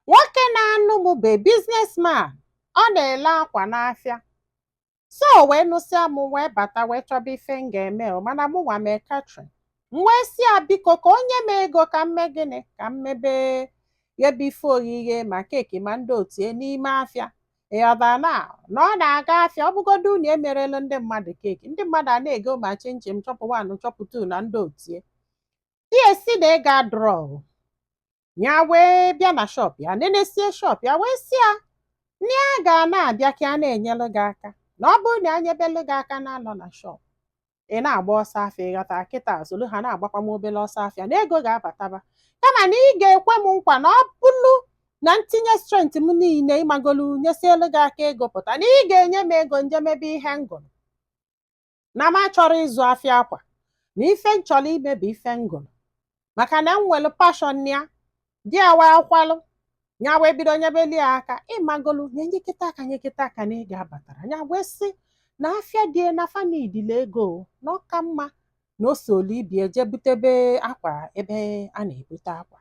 nwoke na-anụ m bụ businessman ọ na-ele akwa n'afịa so o wee nụsịa m wee bata wee chọba ife m ga-eme o mana mụ nwa mee catering m wee sị ya biko ka o nye m ego ka m mee gịnị ka m mebe ghebe ife oghighe ma keeki ma ndị otu ya n'ime afịa ịghọtara na na ọ na-aga afịa ọ bụgodu unu emerelu ndị mmadụ keeki ndị mmadụ ana-ego ma chinchin chop one chop two na ndị otu ya di ya sị na ego adịrọ ya wee bịa na shop ya nenesie shop ya wee sị ya na ya ga na-abịa ka ya na-enyelu gị aka na ọ bụrụ na ya nyebelu gị aka na-anọ na shop ị na-agba ọsọ afịa ịghọta kịta solu ha na-agbakwa m obere ọsọ afịa na ego ga-abataba kama na ị ga-ekwe m nkwa na ọ bụrụ na m tinye strength m niile ịmagolu nyesielu gị aka ego pụta na ị ga-enye m ego m je mebe ihe m gụrụ na m achọrọ ịzụ afịa akwa na ife m chọrọ ime bụ ife m gụrụ maka na m nwere passion ya di ya wee kwelu ya wee bido nyebeli ya aka ịmagolu nye nyekata aka nyekata aka na ego abatarọ ya wee sị na afịa di ya na fa needili ego na ọ ka mma na o solu ibe ya je butebe akwa ebe a na-ebute akwa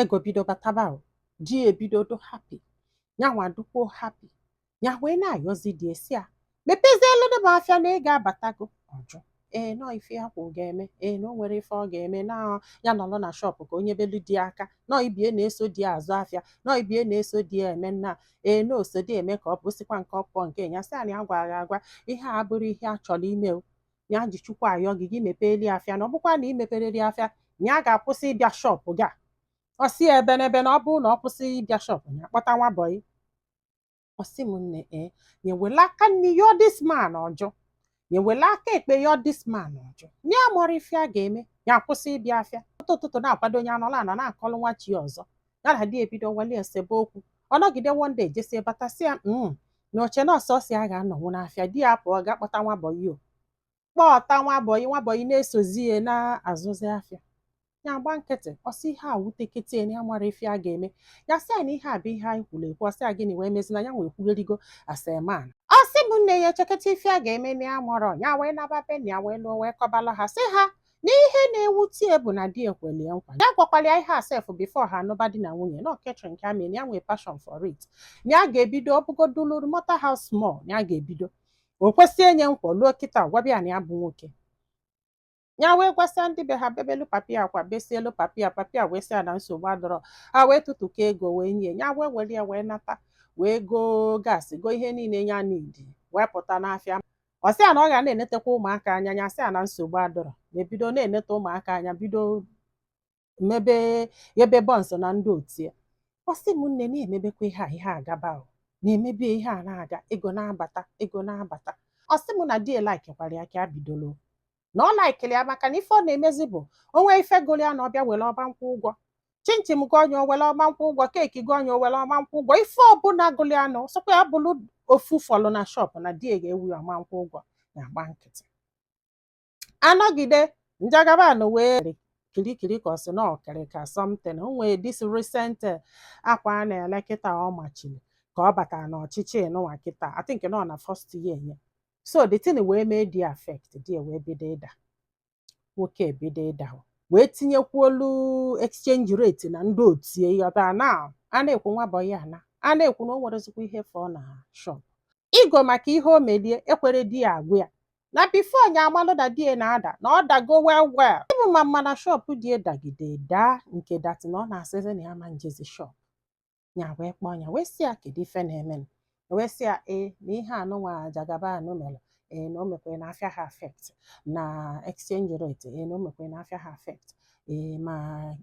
ego bido bataba o di ya ebido dị happy nyanwa dịkwuo happy ya wee na-ayọzi di ya sị ya mepezieludu m afịa na ego abatago ọ jụ ee nọ ife ya kwụ ga-eme ee na o nwere ife ọ ga-eme na ya nọrọ na shop ka o nyebelu di ya aka na ibe ya na-eso di azụ afịa na ibe ya na-eso di eme nna ee na o so di eme ka ọ bụ sikwa nke ọpụọ nke ya sị na ya gwara gị agwa ihe a abụrọ ihe ya chọrọ ime o ya ji chukwu ayọ gị gị mepeeli ya afịa na ọ bụkwa na ị mepereli ya afịa ya ga-akwụsị ịbịa shop gị a ọ sị ya ebe n'ebe na ọ bụrụ na ọ kwụsị ịbịa shop ya kpọta nwa bọyị ọ sị m nne ee ya wele aka nni yọ this man ọ jụ ya wele aka ekpe yọ this man ọ jụ nya amarọ ife ya ga-eme ya akwụsị ịbịa afịa ụtụ ụtụtụ na-akwado onye anọla anọ na-akọlụ nwa chi ọzọ ya na di ebido wali esebe okwu ọ nọgide one day jesie bata sị ya mm na o che na ọ sọsọ ya ga-anọnwu n'afịa di ya pụọ gaa kpọta nwa bọyị o kpọta nwa bọyị nwa bọyị na-esozi ya na-azụzi afịa ya gba nkịtị ọ sị ihe a wutekete ya na ya amarọ ife ya ga-eme ya sị ya na ihe a bụ ihe anyị kwuru ekwu ọ sị ya gịnị wee mezie na yanwa ekwugharịgo as a man ọ sị m nne ya echeketa ife ya ga-eme na ya amarọ ya wee naba be nna ya wee luo wee kọbalụ ha sị ha na ihe na-ewute ya bụ na di ya kweli ya nkwa ya gwakwara ya ihe a sef before ha anụba di na nwunye na ọ catering ka ya mee ya nwee passion for it na ya ga-ebido ọ bụgodu no matter how small na ya ga-ebido o kwesie nya nkwa luo kịta gwaba ya na ya bụ nwoke ya wee gwasịa ndị be ha bebelu papa ya akwa besielu papa ya papa ya wee sị ya na nsogbu adịrọ ha wee tụtụkọ ego wee nye ya wee were ya wee nata wee goo gas goo ihe niile ya needi wee pụta n'afịa ọ sị ya na ọ ga na-enetakwa ụmụaka anya nya sị ya na nsogbu adọrọ nya ebido na-eneta ụmụaka anya bido mebe ebe buns na ndị otu ya ọ sị m nne na-emebekwa ihe a ihe agaba ọ na-emebe ihe a na-aga ego na-abata ego na-abata ọ sị m na di ya laikikwara ya ka a bidolo na ọ laikili ya maka na ife ọ na-emezi bụ o nwe ife gụrụ ya na ọ bịa were ọ ma nkwụ ụgwọ chinchin gụọ nya o were ọ ma nkwụ ụgwọ cake gụọ nya o were ọ ma nkwụ ụgwọ ife ọbụla gụrụ ya na sọkwa ya bụrụ ofu fọlụ na shop na di ga-ewe ya ọ ma nkwụ ụgwọ ya agba nkịtị a nọgide Jagaban wee kirikiri ka ọ sị na okirika something o nwee this recent eh, akwa a na-ele kịta ọ machiri ka ọ batara n'ọchịchị nụnwa kịta I think na ọ na first year ya so the thing wee mee di ya affect di ya wee bido ịda nwoke ebido ịda wee tinyekwuolu exchange rate na ndị otu ya ịghọta na a na-ekwu nwa bọyị a na a na-ekwu na o nwerezikwa ihe fọ na shop ego maka ihe o meli ya ekwere di ya agwa ya na before nya amalụ na di ya na-ada na ọ dago well well even ma mma na shop di ya dagide daa nke that na ọ na-asịzi na ya ma njezi shop nya wee kpọọ nya wee sị ya kedu ife na-eme wee sị ya ee na ihe anụnwa Jagaban mere ee na o mekwere na afịa ha affect na exchange rate ee na o mekwere na afịa ha affect ee ma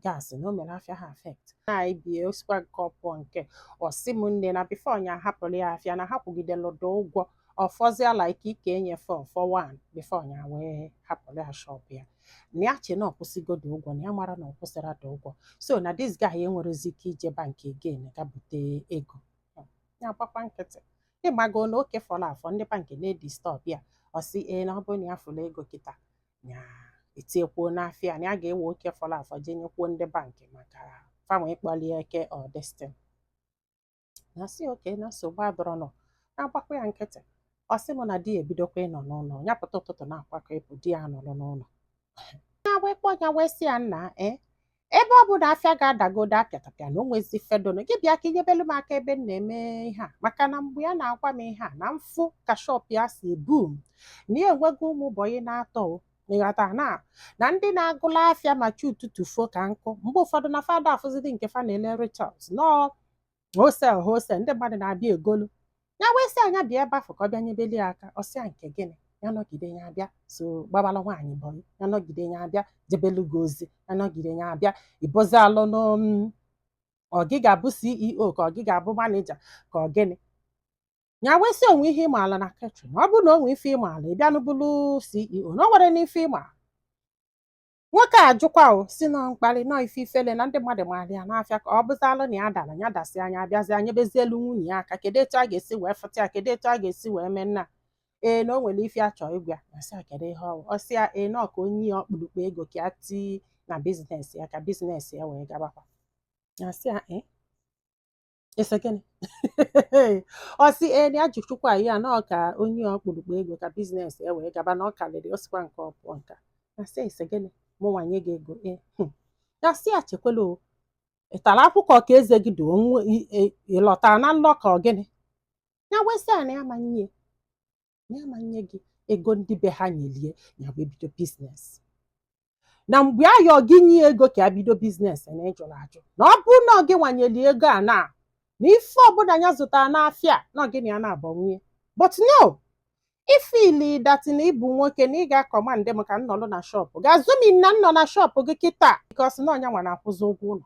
gas na o mere afịa ha affect na even o sikwa nke ọ pụọ nke ọsị m nne na before nya hapụrụ ya afịa na ha kwụgideludo ụgwọ ọ fọzia like like enyefe ọfọ wan before nya wee hapụrụ ya shop ya na ya che na ọ kwụsịgodo ụgwọ na ya amara na ọ kwụsịrado ụgwọ so na this guy enwerezi ike ije bank again ga bute ego ya gbakwa nkịtị ị mago na oke fọrọ afọ ndị bank na-edisturb ya ọ sị ee na ọ bụrụ na ya fụrụ ego kịta ya etiekwuo n'afịa na ya ga-ewe oke fọrọ afọ jee nyekwuo ndị bank maka fa nwe ịkpọlie eke ọ this thing nya sị okay na nsogbu adọrọnụ nya agbakwa ya nkịtị ọ sị m na di ya ebidokwa ịnọ n'ụlọ ya pụta ụtụtụ na-akwakọ ịpụ di ya nọrọ n'ụlọ ya wee kpọ ya wee sị ya nna e ebe ọ bụ na afịa gị adagodo apịatapịa na o nwezi ife dọnụ gị bịa ka i nyebelu m aka ebe m na-eme ihe a maka na mgbe ya na-agwa m ihe a na m fụ ka shop ya si boom na ya enwego ụmụ bọyị na atọ o ịghọta na na ndị na-agụla afịa ma chi ụtụtụ fo ka nkụ mgbe ụfọdụ na fa ada afụzidi nke fa na-ele retails na ọ wholesale wholesale ndị mmadụ na-abịa egolu ya wee sị ya nya bịa ebe afụ ka ọ bịa nyebeli ya aka ọ sị ya nke gịnị ya nọgide ya abịa so gbabala nwaanyị bọyị ya nọgide ya abịa jebelu gị ozi ya nọgide ya abịa ịbụzi alụ n'om ọ gị ga-abụ ceo ka ọ gị ga-abụ maneja ka ọ gịnị ya wee sị o nwe ihe ị maala na catering ọ bụrụ na o nwe ife ị maala ị bịanụ bụrụ ceo na o nwerenụ ife ị maala nwoke a jụkwa ọ sị na ọ mkparị na ọ ife ifele na ndị mmadụ maara ya n'afịa ka ọ bụzalụ na ya dara ya dasịa nya abịazia nyebezielu nwunye ya aka kedu etu a ga-esi wee fụta ya kedu etu a ga-esi wee mee nna ee na o nwere ife a chọ ịgwa ya sị ya kedu ihe ọ wụ ọ sị ya ee na ọ ka o nye ya ọkpụrụkpụ ego ka ya tii na bizinesi ya ka bizinesi ya wee gabakwa ya sị ya ee ị sị gịnị ọ sị ee na ya ji chukwu ayọ ya na ọ ka o nye ya ọkpụrụkpụ ego ka biznes ya wee gaba na ọ karịrị o sikwa nke ọ pụọ nka ya sị ị sị gịnị mụ nwa nye gị ego ee hmm. ya sị ya chekwela o ị tara akwụkwọ ka eze gị dị onwe ị- ị- ị lọtara na nlọ ka ọ gịnị ya wee sị ya na ya ma nye ya ma nye gị ego ndị be ha nyelie ya wee bido biznes na mgbe ya yọ gị nye ya ego ka ya bido biznes na ị jụrụ ajụ na ọ bụrụ na ọ gị nwa nyeli ya ego a na na ife ọbụla ya zụtara n'afịa na ọ gị na ya naabọ nwe ya but no i fiili that na ị bụ nwoke na ị ga-akọmandị m ka m nọlụ na shọpụ gị assuming na m nọ na shọpụ gị kịta bikos na ọ nya nwa na-akwụzi ụgwọ ụlọ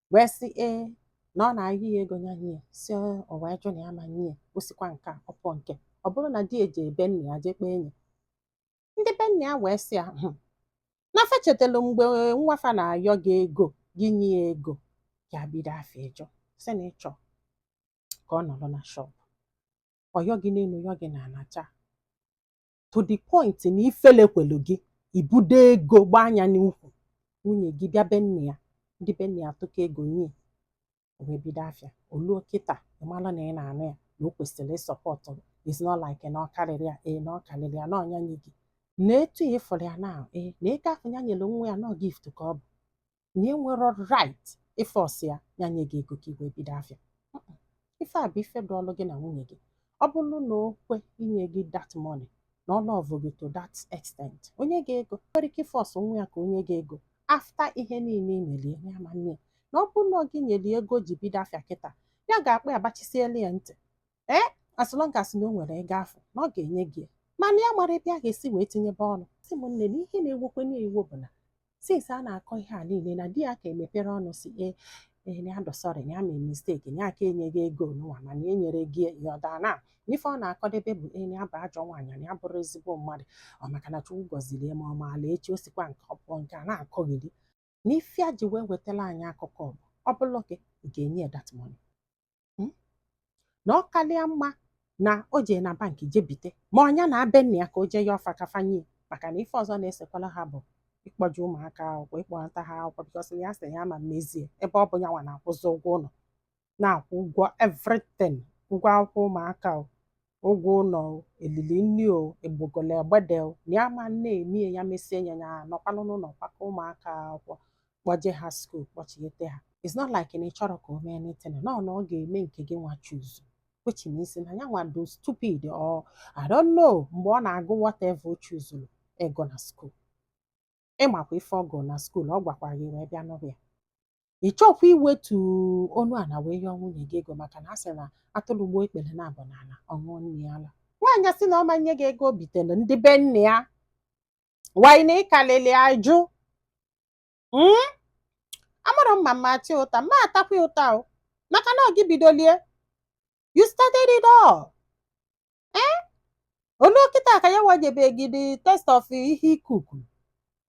wee sị ee na ọ na-ayọ ya ego nya nye ya si o wee jụ na ya ma nye o sikwa nke a ọ pụọ nke ọ bụrụ na di ya ejee be nna ya jee kpeenye ndị be nna ya wee sị ya "Hmm, na fa chetara mgbe nwa fa na-ayọ gị ego gị nye ya ego ya bido afịa ị jụ sị na ị chọ ka ọ nọrọ na shọpụ ọ yọ gị n'elu yọ gị n'ana cha to the point na ifele kwelu gị ibudo ego gbaa anya n'ukwu nwunye gị bịa be nne ya ndị be nne ya atụkọ ego nye ya o wee bido afịa o luo kịta ị mara na ị na-anụ ya na o kwesịrị ịsọpọtụ gị is not like na ọ karịrị ya ee na ọ karịrị ya na ọ nya nye gị na etu ya ị fụrụ ya na ee na ego ahụ ya nyere nwa ya na gift ka ọ bụ na i nwerọ right ịfọs ya ya nye gị ego ka i wee bido afịa Mm-mm. ife a bụ ife dịịlụ gị na nwunye gị ọ bụrụ na o kwe inye gị that money na ọ lọvụ gị to that extent o nye gị ego i nwerọ ike ịfọs nwa ya ka o nye gị ego after ihe niile ị nyere ya ya ma nne ya na ọ bụrụ na ọ gị nyere ya ego ji bido afịa kịta ya ga-akpọ ya gbachisiela ya ntị ee as long as na o nwere ego afụ na ọ ga-enye gị ya. mana ya amarọ ebe ya ga-esi wee tinyebe ọnụ sị m nne na ihe na-ewekwa nya iwe bụ na since a na-akọ ihe a niile na di ya aka emeperọ ọnụ sị ee ee na ya dị sorry na ya mee misteki na ya ka enye gị ego nụwa mana enyerọ gị ya rather na ife ọ na-akọdebe bụ ee na ya bụ ajọ nwaanyị na ya abụrọ ezigbo mmadụ ọ maka na chukwu gọziri ya ma ọ maala echi o sikwa nke ọ pụọ nke a na-akọgheri na ife a ji wee wetara anyị akụkọ bụ ọ bụrụ gị ị ga-enye ya that money Hmm? na ọ karịa mma na o jee na bank je bite ma ọ nya naa be nna ya ka o jee yọọ fa ka fa nye ya maka na ife ọzọ na-esekwala ha bụ ịkpọje ụmụaka akwụkwọ ịkpọnata ha akwụkwọ bikọs ya sị ya ma mezie ebe ọ bụ ya nwa na-akwụzi ụgwọ ụlọ na-akwụ ụgwọ everything ụgwọ akwụkwọ ụmụaka o ụgwọ ụlọ o elili nri o egbogolo egbede o na ya ma na-emie ya mesie ya ya nọkwanụ n'ụlọ kwakọ ụmụaka akwụkwọ kpọje ha skuul kpọchighete ha it's not like na ị chọrọ ka o mee anything nọ na ọ ga-eme nke gị nwa chuzu which means na ya nwa do stupid or I don't know mgbe ọ na-agụ whatever o chuzuru ịgụ na skuul ị makwa ife ọ gụ na skuul ọ gwakwara gị wee bịa nụrụ ya ị chọkwa iwetu onu ala wee yọọ nwunye gị ego maka na a sị na atụrụ gbuo ikpere naabọ n'ala ọ ṅụọ nne ya ala nwaanyị sị na ọ ma nye gị ego o bitere ndị be nne ya nwaanyị na ị kalịlị ajụ Mm? amarọ m ma m ma-ata gị ụta ma atakwa ya ụta o maka na ọ gị bidolie you started it all ee olu kịta ka ya nwa jebe gị the taste of ihe i cook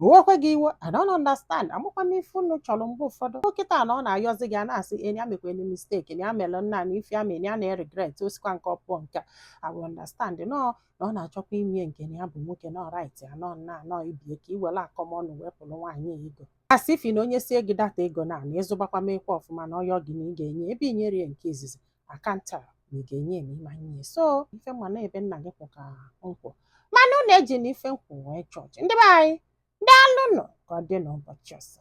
o wekwe gị iwe I don't understand amakwa m ife unu chọrọ mgbe ụfọdụ kịta na ọ na-ayọzi gị a na-asị na ya mekwene mistake na ya amela nna na ife ya mere ya na-eregret o sikwa nke ọ pụọ nke a I will understand nọ na ọ na-achọkwa ime nke na ya bụ nwoke nọ right ya nọ nna ya nọ ibie ka i were akọmọnụ wepụrụ nwaanyị ego a sị ifi na onye sie gị data ego na na ị zụbakwa mekwa ọfụma na ọ yọọ gị na ị ga-enye ebe i nyere ya nke izizi akanta na ị ga-enye ma ị ma nye so ife m ma na ebe nna gị kwụ ka m kwụ mana unu ejina ife m kwu wee judge ndị be anyị daalụnụ ka ọ dị n'ụbọchị ọzọ